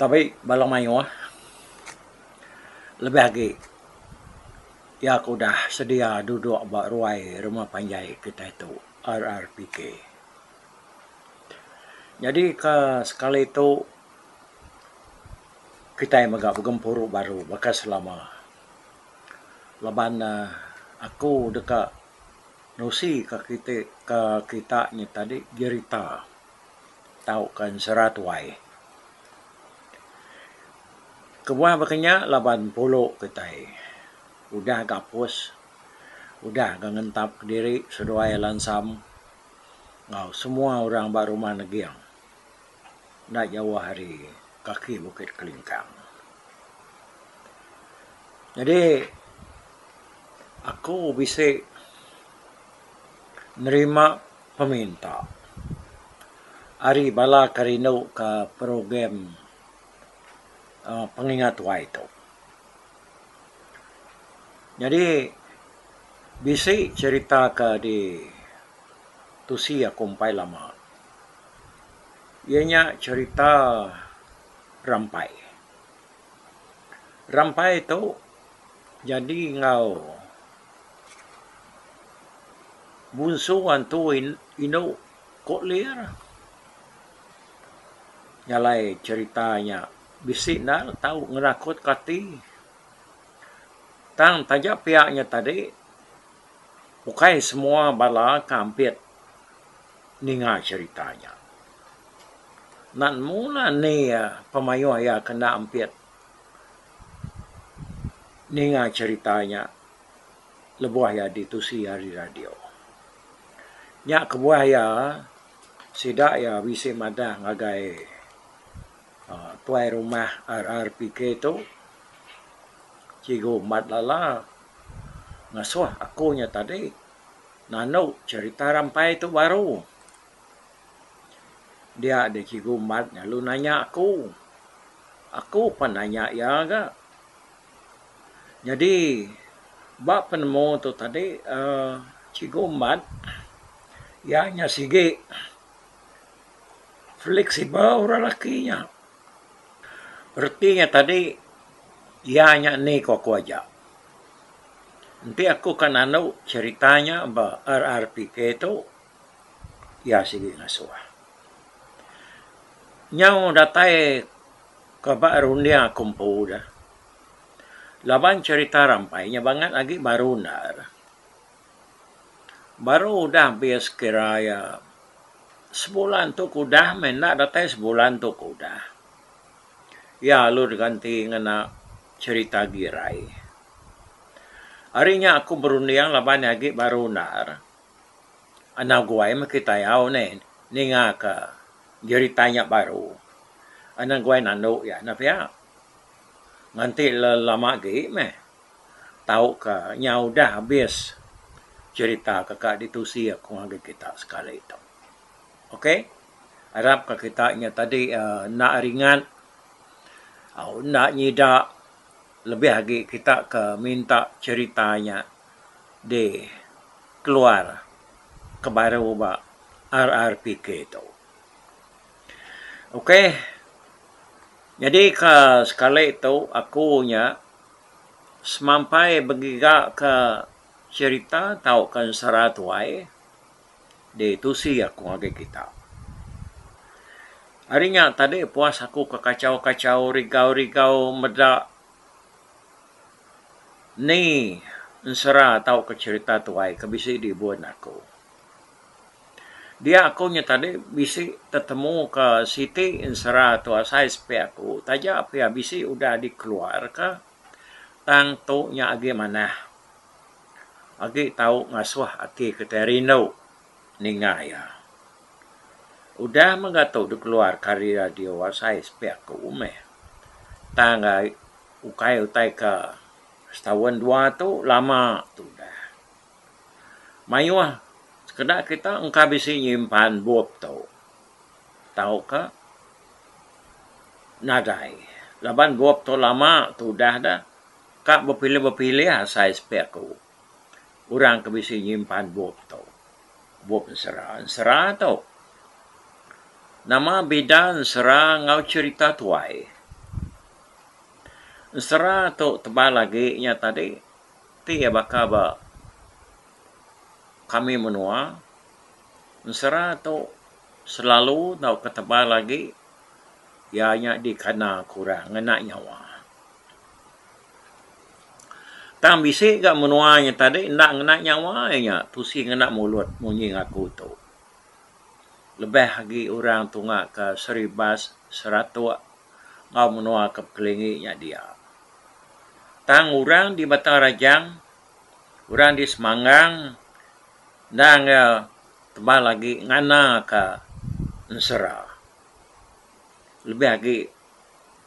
Tabi bala mayuh lebih agi iya ke udah sedia duduk ba ruai rumah panjai kitai tu RRPK. Nyadi ke sekali tu kitai mega begempuru baru baka selama laban ne aku deka nusi ka kiti ka kita nya tadi jerita. tauka ensera tuai. Kebuah baka nya laban pulu kitai udah gapus udah ga ngentap kediri seduai lansam enggau semua orang ba rumah neging enda jauh ari kaki bukit kelingkang. Jadi aku bisi nerima. peminta. Ari bala ke rindu ke program pengingat tuai tu. Nyadi bisi cerita ke di tusi aku empai lama iya nya cerita rampai. Rampai tu jadi enggau. Munsu antu indu ko lir nyalai cerita nya bisi enda le tau ngenakut ka ati tang taja pia nya tadi ukai semua bala ke ampit ninga cerita nya. Nan mu lah ni iya pemayuh iya ke enda ampit. ninga cherita nya lebuh iya ditusi ari radio. Nya kebuah iya sida iya bisi madah ngagai aaa tuai rumah RRPK tu Cikgu Mat Lala ngasuh aku nya tadi nanu cherita rampai tu baru. Dia deh Cikgu Mat lalu nanya aku. Aku pan nanya iya ga. Nyadi ba penemu tu tadi aaa Cikgu Mat iya nya sigi fleksibel orang lelaki nya. Reti nya tadi iya nya ni ku aku aja. Enti aku ka nalu cerita nya ba RRPK tu iya sigi ngasuh. Nyau datai ke ba runding aku empu da laban cherita rampai nya bangat agi baru enda re. Baru udah habis kira iya sebulan tu ke udah meh enda datai sebulan tu ke udah iya lalu diganti ngena cherita Girai. Ari nya aku berunding laban iya agi baru enda re. Anang guai meh kitai au neh ninga ka jerita nya baru. Anang guai nandu iya neh pia. Nganti le lama agi meh tau ka nya udah abis jerita ka ka ditusi aku ngagai kita sekali tu. Ok arap ka kita nya tadi aaa enda ringat au enda nyida lebih agi kita ka minta jerita nya. di keluar ke baru ba RRPK tu. Ok nyadi ka sekali tu aku nya semampai begiga ka cherita tau ka ensera tuai di tusi aku ngagai kita. Ari nya tadi puas aku ka kachau kachau rigau rigau meda Ni ensera tauka cherita tuai ke bisi dibun aku? Dia aku nya tadi bisi tetemuka siti ensera tu asai sepi aku taja pia bisi udah dikeluarka tang tu nya agi manah agi tau ngasuh ati kitai rindu ninga iya. Udah mega tu dikeluarka ari radio asai sepi aku meh tang ai Ukai utai ke setaun dua tu lama tudah. Mayuh sekeda kita engka bisi nyimpan bup tu tauka nadai laban bup tu lama tudah dah ka bepilih-bepilih asai sepi aku. orang ke bisi nyimpan bup tu. Bup ensera, ensera tu. Nama bida ensera enggau cherita tuai? Ensera tu tebal agi nya tadi ti iya baka ba kami menua. Ensera tu selalu tauka tebal agi iya nya dikena ke orang ngena nyawa. Tang bisi ga menua nya tadi enda ngena nyawa inya tusi ngena mulut munyi ngaku tu. Lebih agi orang tunga ke Seribas, Seratok enggau menua ke pekelingi nya dia. Tang orang di Batang Rajang, orang di Semangang endang iya tebal agi ngana ka ensera. Lebih agi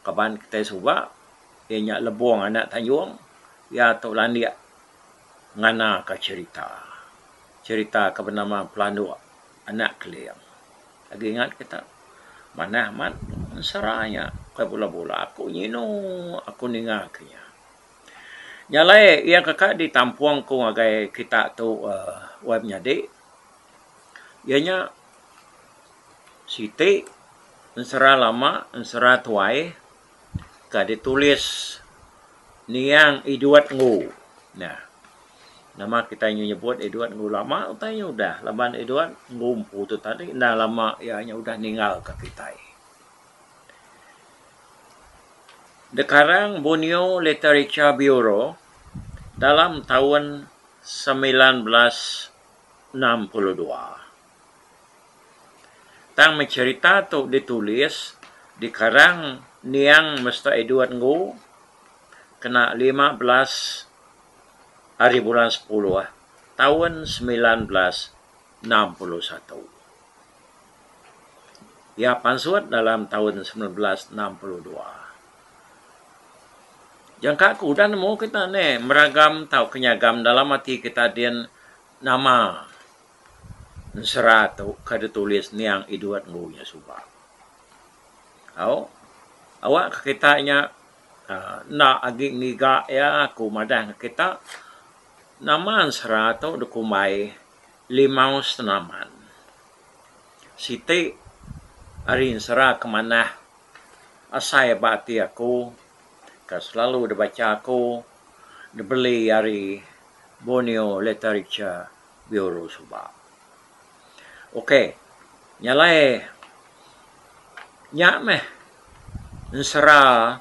kaban kitai suba iya nya Lebong anak Tayong iya tu landik ngana ka cherita cherita ke benama Pelandok anak Keling agi ingat ke ta manah amat ensera nya ke bula bula aku nyinu aku ninga ke nya. Nya alai iya ke ka ditampong ku ngagai kita tu uhh wai menyadi iya nya Siti ensera lama ensera tuai ka ditulis niang Edward Ngu nah nama kitai nyu nyebut Edward Ngu lama utai nyu udah laban Edward Ngu empu tu tadi enda lama iya nya udah ninggal ka kitai. The Karang Bunyo Literature Bureau dalam taun semilan belas enam puluh dua. Tang meh cherita tu ditulis dikarang Niang Mester Edward Nggu kena lima belas ari bulan sepuluh taun semilan belas enam puluh satu. Iya pansut dalam taun semilan belas enam puluh dua. Jangka aku udah nemu kita ni meragam tauka nyagam dalam ati kita din nama. Ensera tu ka ditulis niang Edward Ngu nya suba. Au, awak ka kita nya aaa enda agi ngiga iya aku madah ka kita nama ensera tu dikumbai Limau Senaman. Siti ari ensera ke manah asai ba ati aku ke selalu dibacha aku dibeli ari Borneo Literature. Bureau suba. Ok, nya alai nya meh ensera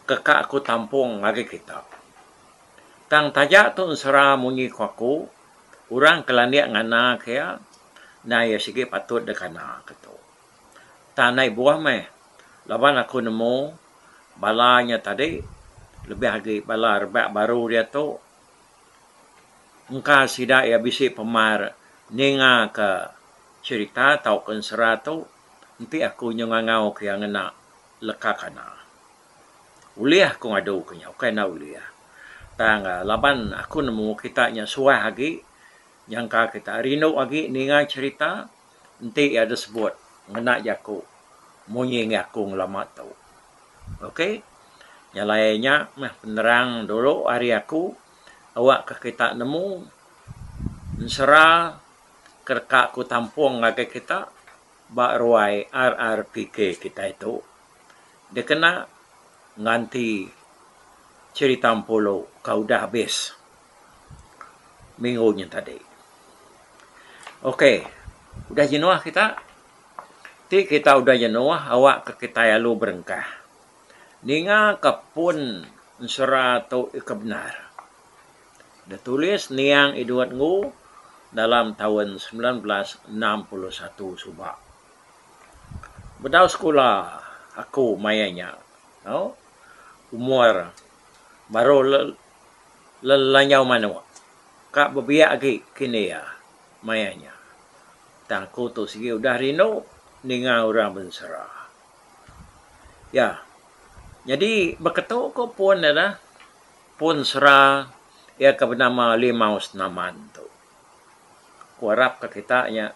keka aku tampung ngagai kita. Tang taja tu ensera munyi ku aku, orang ke landik nganaka iya, endang iya sigi patut deka nganaka tu. Tang andai buah meh laban aku nemu bala nya tadi lebih agi bala rebak baru diatu, engka sida iya bisi pemar ninga ka cerita tau ka ensera tu enti aku nyau ngangau ka iya ngena leka kana. Ulih aku ngadu ka iya ukai enda ulih tang laban aku nemu kita nya suah agi nyangka kita rindu agi ninga cerita. Enti iya deh sebut ngena jaku munyi enggih aku ngelama tu. Ok. Nyelai nya meh penerang dulu ari aku awakka kita nemu ensera ke deka ku tampung ngagai kita ba ruai RRPK kitai tu dikena nganti cherita empulu ka udah habis. minggu nya tadi. Ok, udah jenuh kita, ti kita udah jenuh awakka kitai alu berengkah ningaka pun ensera tu ika bendar ditulis Niang Edward Ngu dalam taun semilan belas enam puluh satu suba. Bedau sekula aku maya nya tau, umur baru lelanyau manuk ka bebiak agi kini iya maya nya tang aku tu sigi udah rindu ninga orang bensera iya nyadi beketu ku pun ira pun sera iya ke benama limau senaman tu aku arap ka kita nya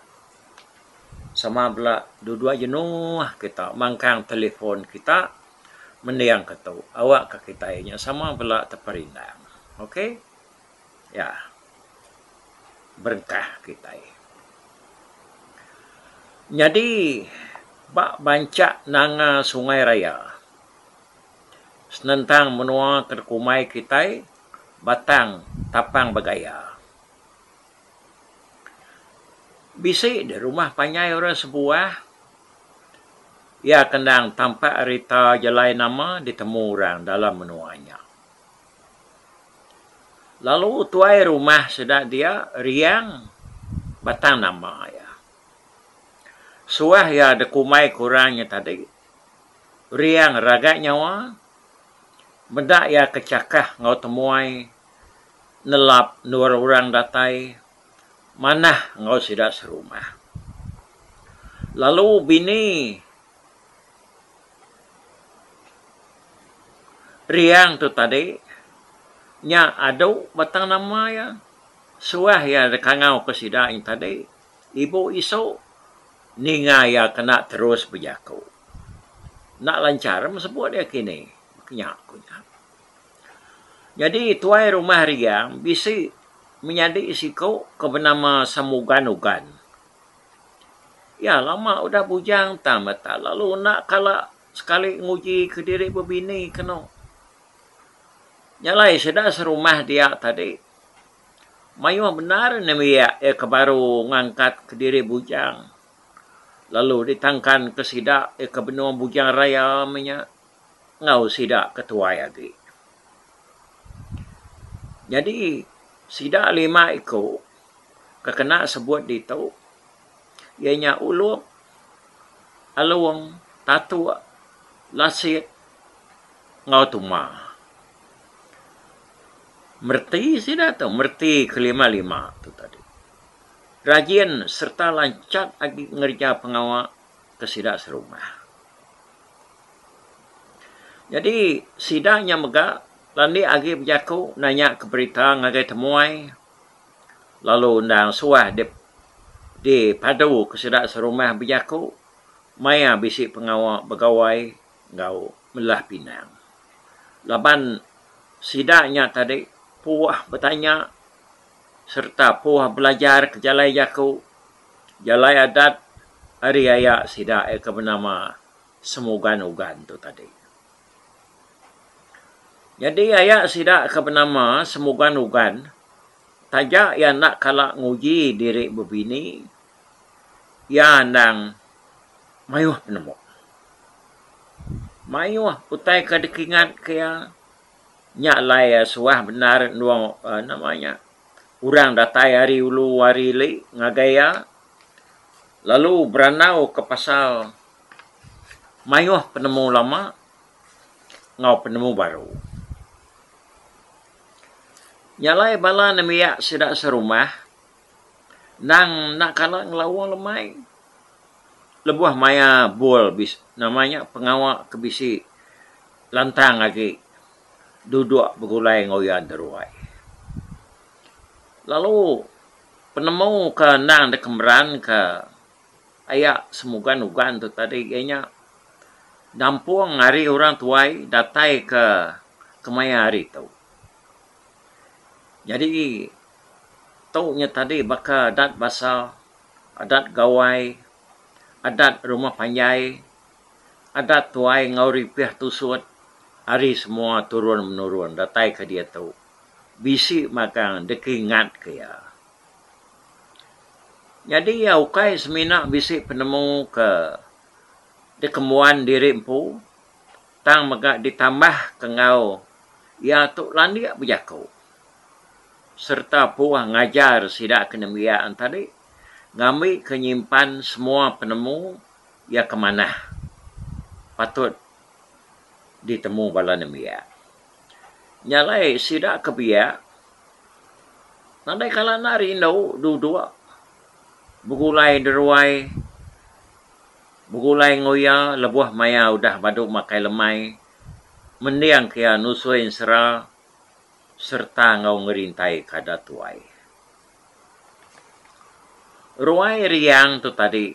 sama bela dua dua jenuh kita mangkang telefon kita. mendingka tu awakka kitai nya sama bela teperindang ok ya berengkah kitai nyadi ba banca nanga sungai raya senentang menua ke dikumbai kitai batang tapang bergaya. Bisi deh rumah panjai orang sebuah iya ke endang tampak rita jalai nama ditemu orang dalam menua nya. Lalu tuai rumah sida dia riang batang nama iya. Suah iya dikumbai ku orang nya tadi riang ragat nyawa meda iya ke chakah enggau temuai nelap endur orang datai manah enggau sida serumah. Lalu bini Riang tu tadi nya adu batang nama iya suah iya dikangau ke sida ain tadi ibu isu ninga iya kena terus bejaku. Enda lanchar sebut iya kini. Nya ku iya. Nyadi tuai rumah Riang bisi menyadi siku ke benama Samugan Ugan. Iya lama udah bujang tang meh tak lalu enda kala sekali nguji kediri bebini keno. Nya alai sida serumah dia tadi mayuh bendar nembiak iya ke baru ngangkat kediri bujang lalu ditangkanka sida iya ke benung Bujang Raya meh nya. enggau sida ke tuai agi. Nyadi sida lima iku ke kena sebut ditu iya nya Ulup, Along, Tatuk, Lasit enggau Tuma. Mereti sida tu, mereti kelima-lima tu tadi. Rajin sereta lanchak agi ngereja pengawa ke sida serumah. Nyadi sida nya mega landik agi bejaku nanya ka berita ngagai temuai lalu endang suah dipadu ka sida serumah bejaku maya bisi pengawa begawai enggau melah pinang. Laban sida nya tadi puah betanya sereta puah belajar ke jalai jaku. jalai adat ari aya sida iya ke benama Semugan Ugan tu tadi. Nyadi aya sida ke benama Semugan Ugan taja iya enda kala nguji diri bebini iya endang mayuh penemu. Mayuh utai ke dikingatka iya. Nya alai suah bendar endur uhh nama nya orang datai ari ulu ari ili ngagai iya lalu berandau ka pasal mayuh penemu lama enggau penemu baru. Nya alai bala nembiak sida serumah. endang enda kala ngelawa lemai lebuh maia bol nama nya pengawa ke bisi lantang agi dudok begulai enggau iya deruai. Lalu penemu ke endang deka meranka aya semugan ugan tu tadi iya nya nampung ari orang tuai datai ke kemaya hari tu. Nyadi tu nya tadi baka adat basa, adat gawai, adat rumah panjai, adat tuai enggau ripih tusut ari semua turun menurun datai ke diatu. Bisi magang dikingat ke iya. Nyadi iya ukai semina bisi penemu ke dikembuan diri empu tang mega ditambahka enggau iya tu landik bejaku. sereta puah ngajar sida ke nembiak en tadi ngambika nyimpan semua penemu iya ke manah patut ditemu bala nembiak. Nya alai sida ke biak nadai kala enda rindu duduk begulai deruai, begulai enggau iya lebuh maya udah badu makai lemai, mendingka iya nusui ensera. sereta enggau ngerintai kada tuai. Ruai riang tu tadi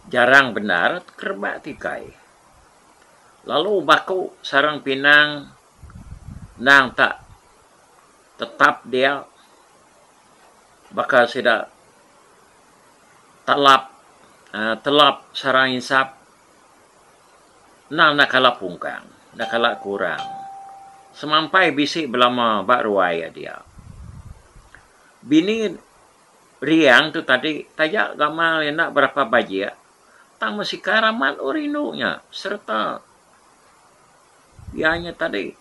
jarang bendar kerebak tikai. Lalu baku sarang pinang endang tak tetap dia baka sida telap telap sarang insap Endang enda kala pungkang, enda kala kurang. Semampai bisi belama ba ruai iya dia. Bini Riang tu tadi taja gamal iya enda berapa bajik tang mesikar amat oh rindu nya sereta iya nya tadi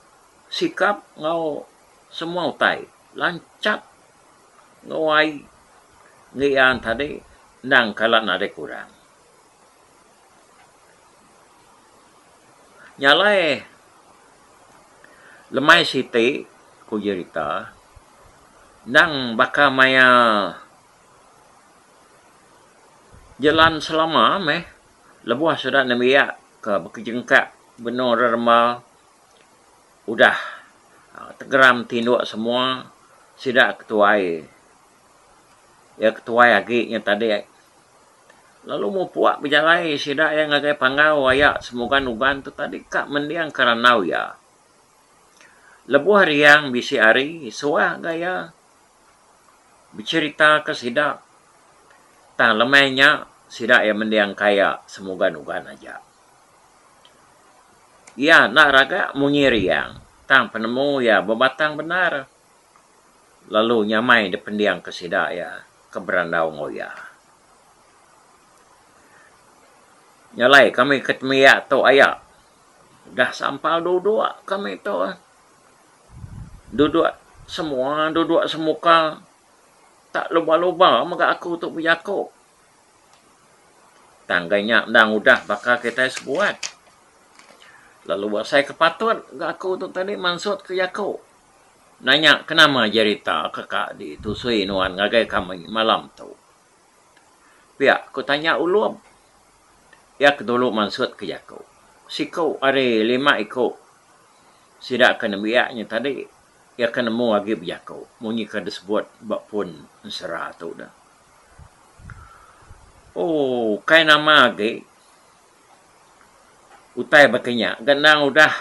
sikap enggau semua utai lanchap enggau ai ngerean tadi endang kala nadai kurang. Nya alai lemai siti ku jerita endang baka maya jelan selama meh lebuh sida nembiak ke bekejengkak benung reremba udah tegeram ti indu semua sida ke tuai iya ke tuai agi nya tadi. Lalu mupuk bejalai sida iya ngagai panggau aya semugan uban tu tadi ka mending ke randau iya. Lebuh riang bisi hari suah ga iya becerita ke sida tang lemai nya sida iya mending ka iya semugan uban aja. Iya enda raga munyi riang tang penemu iya bebatang bendar. lalu nyamai dipendingka sida iya ke berandau enggau iya. Nya alai kami ke tembiak tu aya udah sampal duduk kami tu duduk semua duduk semuka tak luba luba mega aku tu bejaku tang ga nya endang udah baka kitai sebuat lalu asai ke patut ga aku tu tadi mansut ke jaku. Nanya kenama jerita ke ka ditusui nuan ngagai kami malam tu. Pia ku tanya Ulum. Iya ke dulu mansut ke jaku. Siku ari lima iku sida ke nembiak nya tadi iya ke nemu agi bejaku munyi ke disebut ba pun ensera tu dah. Ooh kai nama agi. Utai baka nya ga endang udah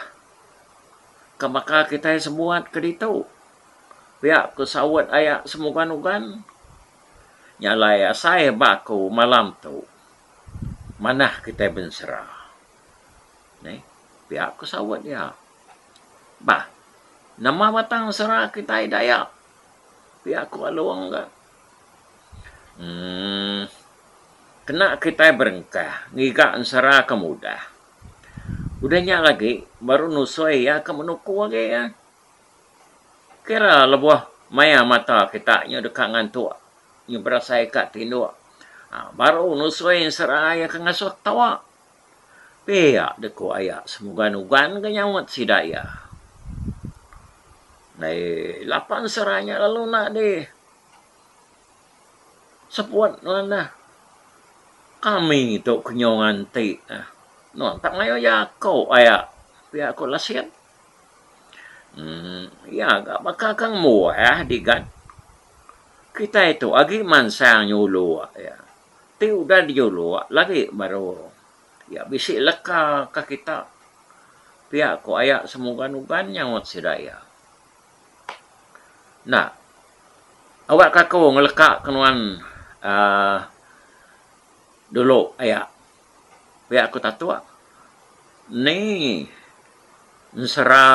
ke baka kitai sebuat ke ditu pia ku saut aya semugon ugon nya alai asai ba aku malam tu manah kitai bensera neh pia ku saut iya bah nama batang sera kitai dayak pia ku alung ga. Emm kena kitai berengkah ngiga ensera ke mudah. Udah nya agi baru nusoi iya ke menuku agi iya. Kira lebuh maya mata kita nyu deka ngantuk, nyu berasai ka tinduk, baru nusoi ensera iya ke ngasuh ke tawa. Pia deh ku aya semugan-ugan ke nyaut sida iya. Ndai lapan sera nya lalu enda deh seput nuan neh. Kami tu ke nyau nganti neh. Nuan tak mayuh jaku aya, pia ku Lasing. Emmm iya ga baka ke ngembuah digat. Kitai tu agi mansang nyulu iya. Ti udah dijuluk lagi baru iya bisi leka ka kita. Pia ko aya semugan uban nyaut sida iya. Enda. Awakka aku ngeleka ke nuan uhh dulu aya. Pia ko Tatuk. Ni ensera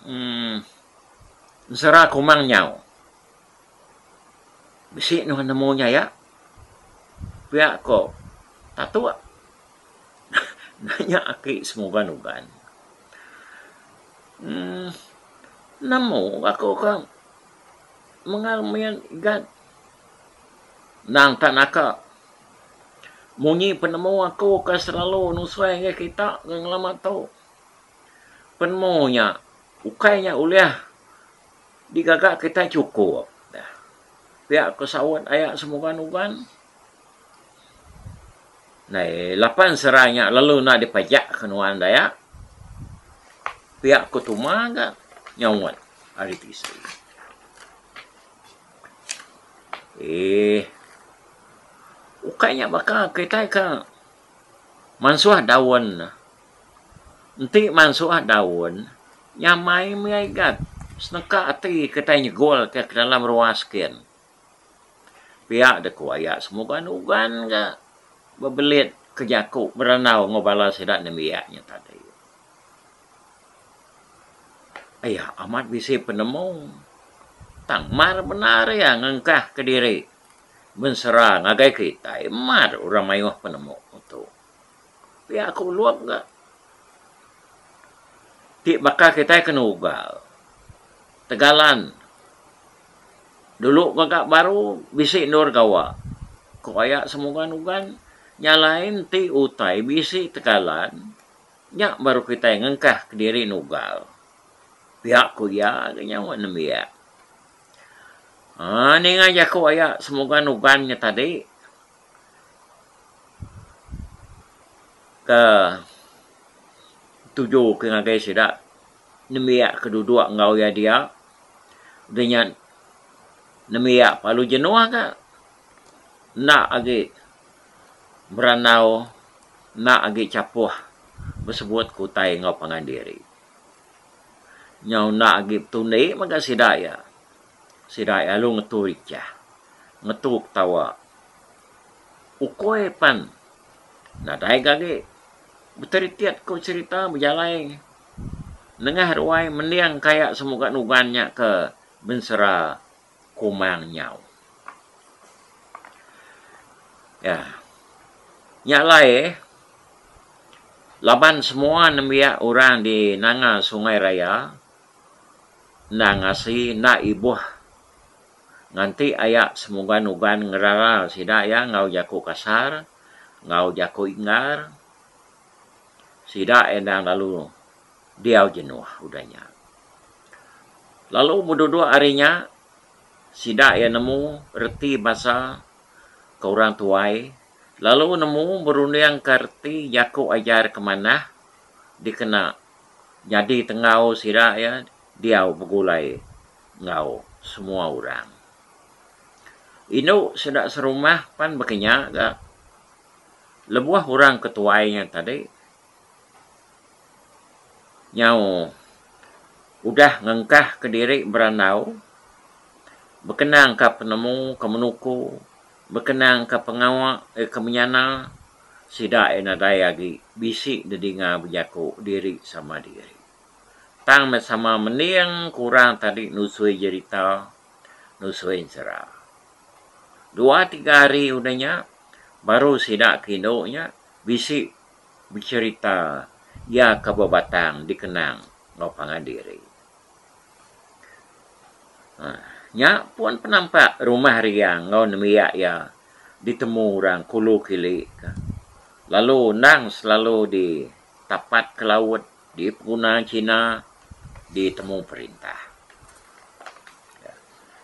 uhh ensera kumang nyau. Bisi nuh nemu nya iya. Pia ko Tatuk nanya aki semuban uban. Uhh nemu aku ka mengal mian igat nang ka naka. Munyi penemu aku ka selalu nusui ngi kita ngi ngelama tu. Penemu nya ukai nya ulih Digaga kitai chukup. Pia ko saut aya semuban uban. Ndai lapan serai nya lalu enda dipajak ke nuan daya. Pia ko Tuma ga nyaut ari tisi. Eeh. Ukai nya baka kitai ke mansuh daun Enti mansuh daun nyamai mih igat seneka ati kitai nyegol ka dalam ruwa skin. Pia deh ku aya semuban uban ga bebelit ke jaku berandau enggau bala sida nembiak nya tadi. Aya amat bisi penemu tang mar bendar iya ngengkah kediri mensera ngagai kitai mar orang mayuh penemu tu. Pia aku ulung ga ti baka kitai kena ugal tegalan dulu mega baru bisi endur gawa ku baya semugan ugan nya lain ti utai bisi tegalan nya baru kitai ngengkah kediri nugal pia ku iya ga nya wak nembiak um ninga jaku aya semugan ugan nya tadi. ke tuju ke ngagai sida nembiak ke dudok enggau iya dia udah nya nembiak lalu jenuh ka enda agi berandau enda agi chapuh besebut ke utai enggau pangan diri nyau enda agi betundi mega sida iya. Sida iya alu ngetu richah, ngetu ketawa. Ukoi pan nadai ga agi beteritit ko cherita bejalai nengah ruai mending ka iya semuga nugan nya ke bensera kumang nyau. Ya. Nya alai laban semua nembiak orang di nanga sungai raya. Endang asi enda ibuh nganti aya semuban uban ngerara sida iya enggau jaku kasar, enggau jaku inggar. Sida iya endang lalu diau jenuh udah nya. Lalu beduduk ari nya sida iya nemu reti bansa ke orang tuai lalu nemu berundingka reti jaku ajar ke manah dikena nyadi tenggau sida iya diau begulai enggau semua orang. Indu sida serumah pan bekenya ga lebuh orang ke tuai nya tadi nyau udah ngengkahka diri berandau bekenangka penemu ke menuku. Bekenangka pengawa iya ke menyana, sida iya nadai agi bisi nedinga bejaku diri sama diri. Tang meh sama mending ke orang tadi nusui jerita, nusui ensera. Dua tiga hari udah nya, baru sida ke indu nya bisi becherita iya ke bebatang dikenang enggau pangan diri. Nya pun penampak rumah Riang enggau nembiak iya ditemu orang Kulu Kili ke lalu endang selalu ditapat ke laut, dipeguna China, ditemu perintah.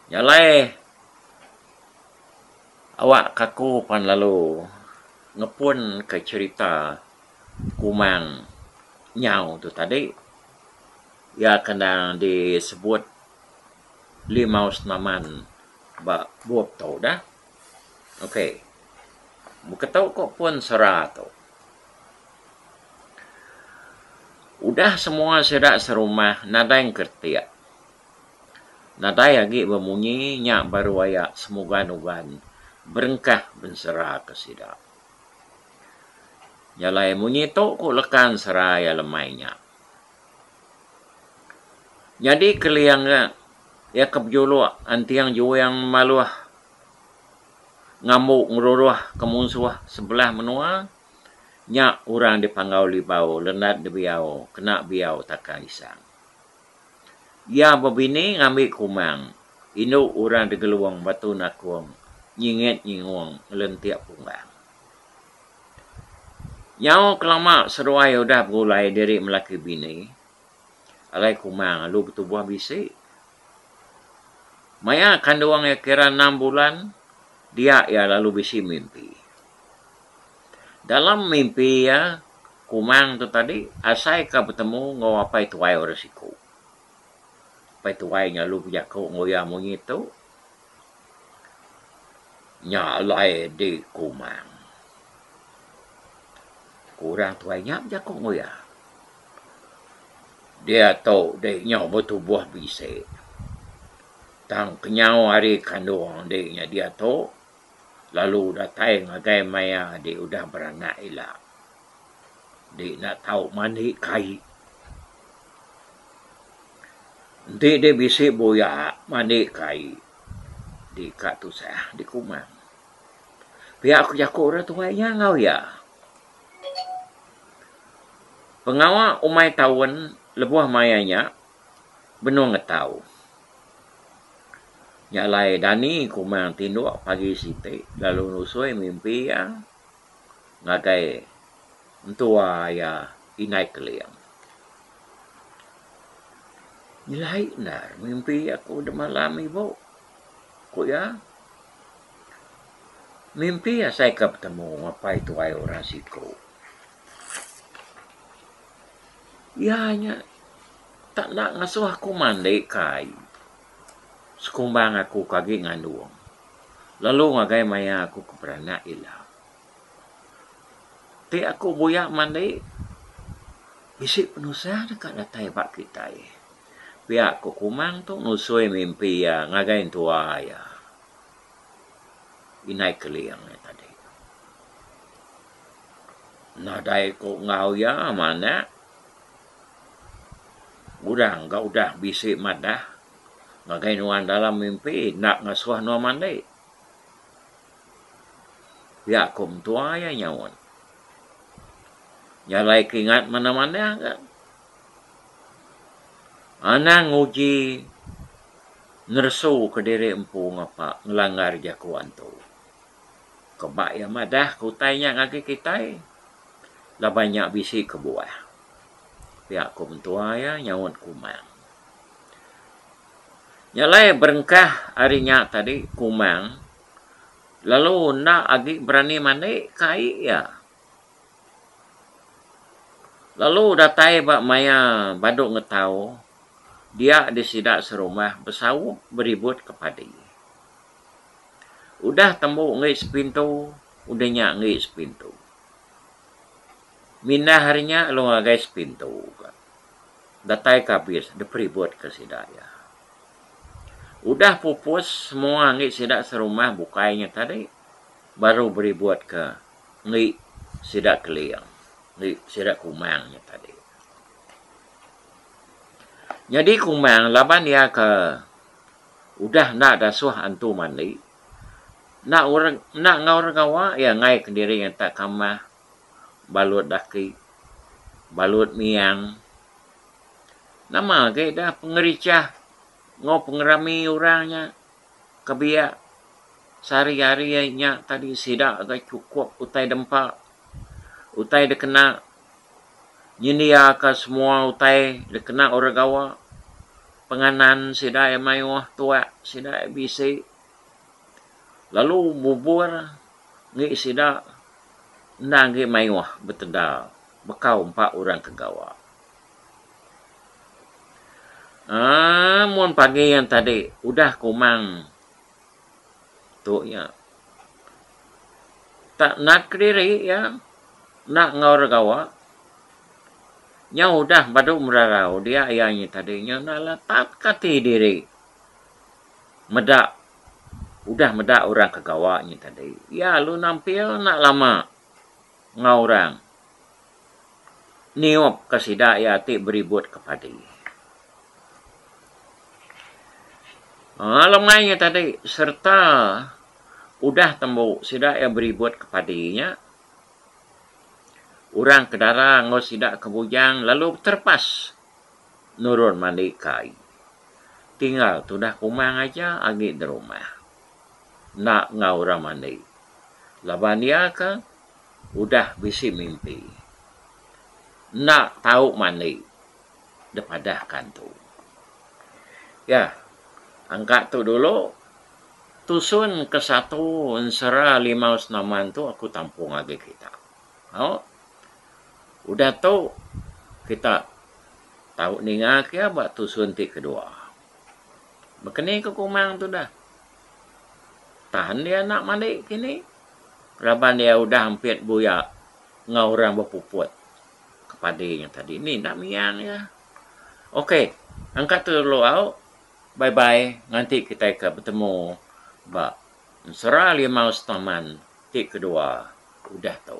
Nya alai awakka aku pan lalu ngepunka cherita Kumang nyau tu tadi. Iya ke endang disebut Limau Senaman ba bup tu dah. Ok. Beketu ko pun sera tu. Udah semua sida serumah nadai engkertik. Nadai agi bemunyi nya baru aya semugan-ugan berengkah bensera ke sida. Nyalai munyi tu ko lekan sera iya lemai nya. Nyadi Keling nya iya ke bejuluk Anting Juing Maluh ngambu ngeruruh ke munsuh sebelah menua nya orang dipanggau Libau Lenan Debiau kena Biau Taka Isang. Iya bebini ngambi Kumang indu orang Degelung Batu Nakong nyingit nyingung ngelentik Pumbang. Nyau kelama seruai udah begulai diri melaki bini, alai kumang alu betubuh bisi. Maya kandung iya kira enam bulan, dia iya lalu bisi mimpi. Dalam mimpi iya, kumang tu tadi asaika betemu enggau apai tuai orang siku. Apai tuai nya lalu bejaku enggau iya munyi tu. Nya alai di Kumang. Ku orang tuai nya bejaku enggau iya. Diatu di nyau betubuh bisi. Tang kenyau hari kandung enti nya diatu lalu datai ngagai maya ti udah beranak ila. Enti enda tau mandi kai. Enti deh bisi buya mandi kai di ka tusah di kumang. Pia ku jaku orang tuai nya enggau iya. Pengawa umai taun lebuh maya nya benung ngetau. Nya alai dani kumang tinduk pagi siti lalu nusui mimpi iya. ngagai entua iya Indai Keling. Nyelai endar mimpi aku demalam ibu, ku iya. Mimpi asai ke betemu apai tuai orang siku. Iya nya tak enda ngasuh aku mandi kai sekumbang aku ke agi ngandung. lalu ngagai maya aku ke beranak ila. Ti aku buya mandi bisi penusah deka datai ba kitai. Pia ku Kumang tu nusui mimpi iya ngagai entua iya Inai Keling nya tadi. Nadai ku enggau iya manak udang ga udah bisi madah. Ngagai nuan dalam mimpi enda ngasuh nuan mandi. Pia ku mentua iya nyaut. Nya alai keingat manah-manah ga. Anang nguji neresu ke diri empu ngapa ngelanggar jaku antu. Ke ba iya madah ke utai nya ngagai kitai laban nya bisi kebuah. Pia ku mentua iya nyaut Kumang. Nya alai berengkah ari nya tadi Kumang lalu enda agi berani mandi ke ai iya. Lalu datai ba maya badu ngetau dia di sida serumah besaup beribut ke padi. Udah tembu enggai sepintu udah nya enggai sepintu. Mindah ari nya lalu ngagai sepintu ka. datai ka bis diperibut ka sida iya. Udah pupus semua enggi sida serumah bukai nya tadi baru beribut ka enggi sida Keling enggi sida Kumang nya tadi. Nyadi Kumang laban iya ka udah enda dasuh antu mandi enda enda enggau orang gawa iya ngaik diri ngata kamah. balut daki, balut miang. Nama agi da pengerichah enggau pengerami orang nya ke biak sehari-hari ari nya tadi sida ga chukup utai dempa, utai dikena nyendiaka semua utai dikena orang gawa, penganan sida iya mayuh tuak sida iya bisi lalu bubur enggi sida endang agi mayuh betega bekau empa orang ke gawa. Aaa mun pagi yang tadi udah kumang tu iya tak nat kediri iya enda enggau orang gawa nya udah badu merarau dia iya nya tadi nya enda alah tatka ati diri meda udah meda orang ke gawa nyi tadi iya lalu nampil enda lama enggau orang niup ka sida iya ti beribut ke padi. Aa lemai nya tadi serta udah tembu sida iya beribut ke padi nya orang ke dara enggau sida ke bujang lalu beterepas. nurun mandi kai. Tinggal tudah kumang aja agi derumah. Enda enggau orang mandi. Laban iya ke udah bisi mimpi. Enda tau mandi depadah kantu. Yah, angka tu dulu tusun ke satu ensera limau senaman tu aku tampung agi kita. Tau. Udah tu kita tau ninga ke iya ba tusun ti kedua. Baka ni ku Kumang tu dah. Tan dia anak madi kini laban iya udah ampit buya enggau orang bepuput ke padi nya tadi. Ni enda miang iya. Ok. Engka telalu au. Bye bye nganti kitai ke betemu ba. Ensera limau staman ti kedua udah tu.